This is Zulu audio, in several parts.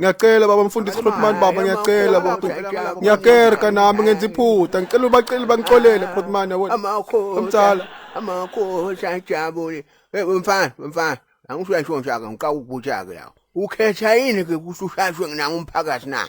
ngiyacela baba mfundisi Grootman baba ngiyacela baba ngiyakerka nami ngenza iphutha ngicela ubacela bangixolele Grootman yabona umthala amakhosi ajabule mfana mfana angisho yasho nje aka ngiqaka ukubutshaka yawo ukhetha yini ke kusushashwe nginanga umphakathi na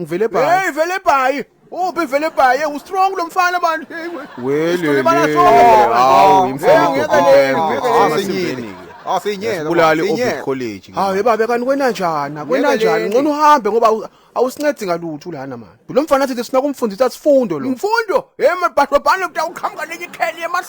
ngivele bhayi hey vele bhayi uphi vele bhayi u strong lo mfana bantu hey wele hawu imfana ngeke Asinyeke. Bulali obi college. Hawu yebaba kanti kwena njani? Kwena njani? Ngcono uhambe ngoba awusincedi ngalutho lana manje. Lo mfana athi sina kumfundisa sifundo lo. Imfundo? Hey mabhadobhane utawuqhamuka nenye ikheli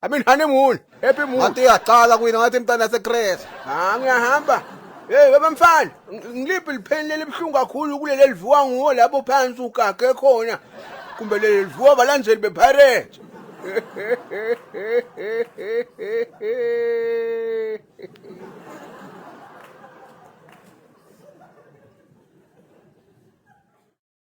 I mean honeymoon, happy moon. Ngathi yaqala kuyina ngathi imntana secret. Ha ngiyahamba. Hey bamfana, ngiliphi lipheni lelibhlungu kakhulu kuleli livuka nguwo lapho phansi ugage khona. Kumbe leli livuka balandeli bepirate.